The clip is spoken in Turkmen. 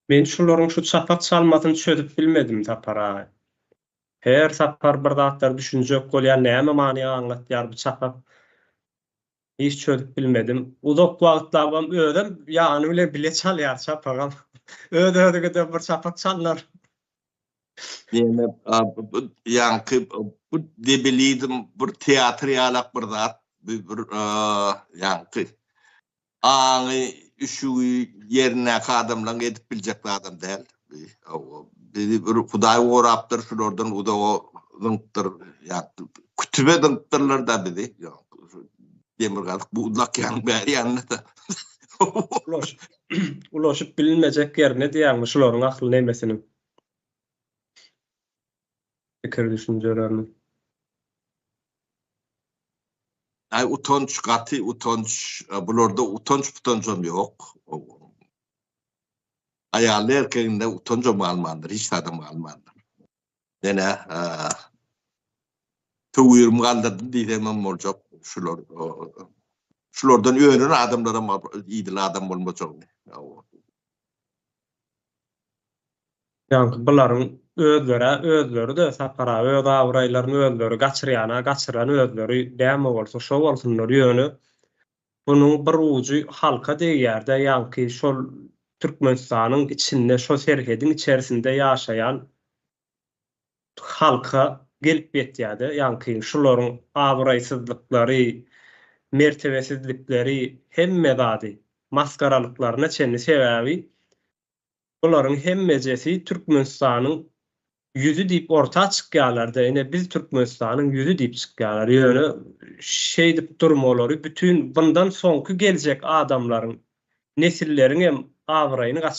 Men şularyň şu çapak çalmasyny çözüp bilmedim Sapar-aý. Her sapar bir zatlar düşünjek bolýan näme many aňlatýar bu çapak hiç çözüp bilmedim. Uzak wagtlabam özem ýany bilen bile çalýar çapagam. Öz-özüňeden bir çapak çalynar. Diýmek ýaňky bu debilizm bir teatr ýalak bir zat. Bu bir ýaňky Aňy, üşügi ýerindäki adamlaň edip biljek zadam däl. Hawa, bizi bir Hudaý gorapdyr, şulardan uzaga zyňypdyr. Ýagny, kütübe zyňypdyrlar-da bizi. Demirgazyk bu Uzakýanyň bäri ýanynda-da. Ulaşyp, ulaşyp bilinmejek ýerine diýýäňmi şularyň ahli nemesiniň? pikir-düşünjelerini. Aý utanç gaty utanç bularda utanç putanjam ýok. Aýaly erkeginde utanjam galmandyr hiç zadam galmandyr. Menä töwürim galdyrdy diýsem hem boljak şular şulardan önen adamlaram idil adam bolmajak. Ýaňky bularyň özlerä özleri-de sapara öz abraýlaryny özleri gaçyrýana gaçyran özleri däme bolsa şo bolsunlar ýöne bunuň bir ujy halka degýärde ýaňky şol Türkmenistanyň içinde şo serhediň içerisinde ýaşaýan halka gelip ýetýärde ýaňky şularyň abraýsyzlyklary mertebesizlikleri hemme zady maskaralyklaryna çenli sebäbi bularyň hemmejesi Türkmenistanyň ýüzi diýip orta çykýarlarda ine biz Türkmenistanyň ýüzi diýip çykýarlar ýöne şeýdip durmalary bütin bundan soňky geljek adamlaryň nesilleriňem abraýyny gaçyrýar.